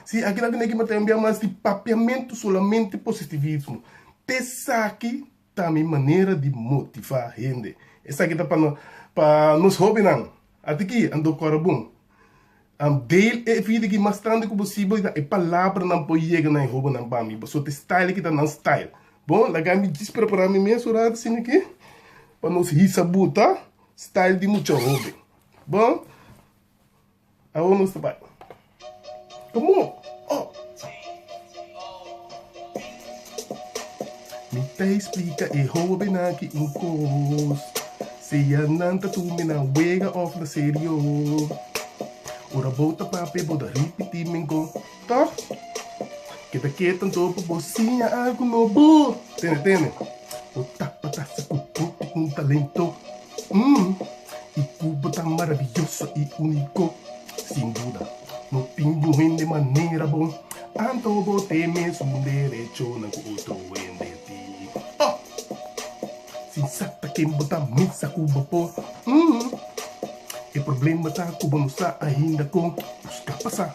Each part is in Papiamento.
Si aki nan ta neki mata enbia mas di papiamentu solamente positivismo. Ta esaki ta mi manera di motiva hende. Esaki ta pa nos hobennan. Atiki a dor kora bon. An deel e vida aki mastandi ku bo si bo ta e palabranan por yega na e hobennan pa mi. Boso ta e style aki ta nan style. Bon, laga mi djis prepara mi mes ora asina aki pa nos hisa buta style di mucha hoben. Bon, awor nos ta bai. Komo? Oh! Mi ta explica e hobennan aki un cos, Sea nan ta tur mi nan wega of na serio, ora bo ta papia bo ta ripiti mingo, toch? Keda keto anto pa bo siña algo nobo. Tene, tene. Bo tapa ta sicu bo tin un talento. Umm, i Cuba ta marabiyoso i unico. Sin duda, no tin un hende manera bo, anto bo ta e mesun derechonan cu otro hende tin. Oh! Sin sa ta ken bo ta misa cu bo por. Umm, e problema ta cu bo no sa ainda con busca pasa.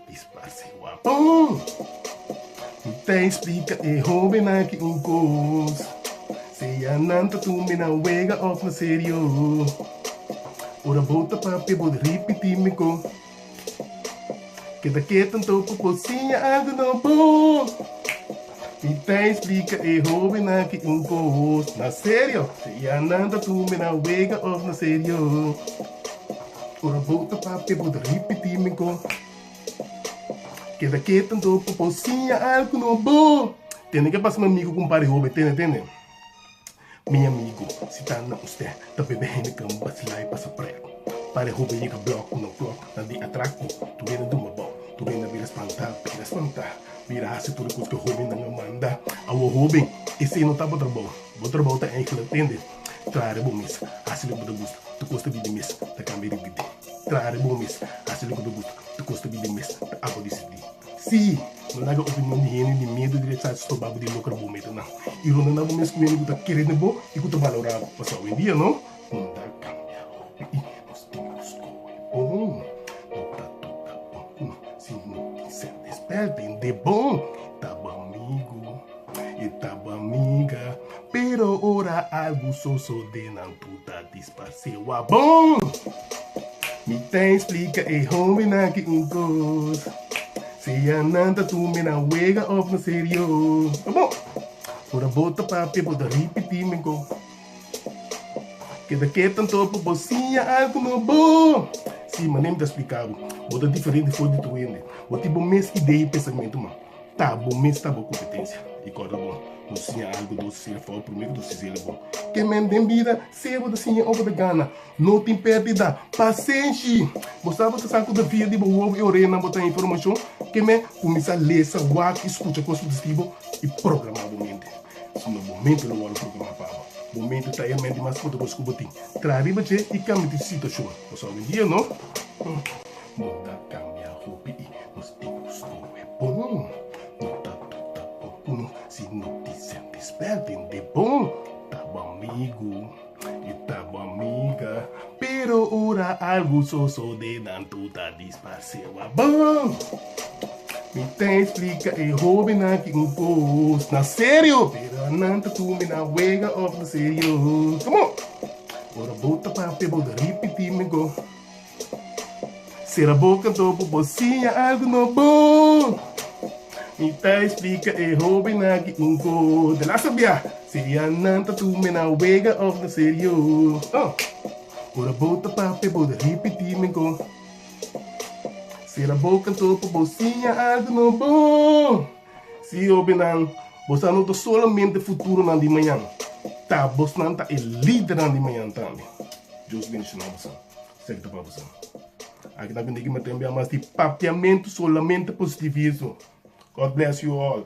Disparse guapo. Mi ta explica e hobennan aki un cos, sea nan ta tumbe nan wega of na serio, ora bo ta papia bo ta ripiti micó. Keda keto anto pa bo siña algo nobo. Mi ta explica e hobennan aki un cos, na serio, sea nan ta tumbe nan wega of na serio. Ora abo ta papia bo ta ripití mihó. Keda ketu anto pa bo siña algu nobo. Tene ke pasa mi amigu ku un par di hobe tene tene. Mi amigu, si ta na ustè ta bebe Heineken basilá i pasa prèk. Par di hobe yega blòk ku no klòk na di atraku. Tur hende a duma bou. Tur hende a bira spantá, a bira spantá. Bira hasi tur e kos ku e hobennan a manda. Awor hoben, esei no ta bo trabou. Bo trabou ta enkla tende. Traha riba un mes, hasi loke bo ta gusta, tokos ta bibi mes, ta kambia di bibi. Traha riba un mes, hasi loke bo ta gusta, tokos ta bibi mes, ta abo di sirbi. Sí, no laga opinion di hende di miedu di rechas sturba bo di loker bo meta nan i ronda nan bo mes ku hende ku ta kerit bo i ku ta balora bo. Pasá owendia no unda kambia hopi i nos tin ku skohe bon. No ta toka bon ku no si no tin ser despert. Hende bon ta bo amigu. E taba miga, pero ora algu sosode nan puta disparse wa bon! Mi ta explica e hombre nan aki un cos, sea nan ta tumbe na wega of na serio. Abo! Ora bo ta papia bo ta ripiti mi go. Keda kiet anto pa bo siña algu no bo. Si, manera mi ta explica bo, bo ta diferente for di tur hende. Bo tin bo mes idea y pensamentu, man. Ta bo mes ta bo kompetensia i kòrda bo bo siña algu dos o siña fau promé ku ta susede'l bo. Ke men den bida sea bo ta siña o bo ta gana no tin pèrdida. Pasenshi! Bo sa bo ta sa ku ta via di bo wowo i orenan bo ta informashon ke men kuminsá lesa, wak i skucha kos ku ta skiri bo i programá bo mente. No bo mente lo wòrdu programá pa bo. Bo mente ta e hermenti mas poderoso ku bo tin. Traha riba dje i kambia di situashon. Bo sa obi un dia, no? Nos ta kambia hopi i nos tin ku skohe bon. No ta tuta bon ku no si no tin senti spèrt en di bon. Ta bo amigu i ta bo amiga, pero ora algu sosode nan tuta dispars'é wak bon. Mi ta eksplika e hóbennan aki un kos, na serio, pero nan ta tumbe na wega òf na serio. Komo? Ora bo ta papia bo ta ripití mihó. Sera boca do bo bo siña algo no bo Mi ta explica e hoben aki un co De la sabia si ya nan ta tu me na wega of na serio Oh Ora bo ta papia bo ta ripiti mi co Sera boca do bo bo siña algo no bo. Si hobennan, boso a no ta solamente futuronan di mañan, ta bosnan ta e lidernan di mañan tambe. Dios bendiciona boso. Seki ta pa boso. Aki ta kuné ki mi ta enbia mas di papiamentu solamente positivismo. God bless you all.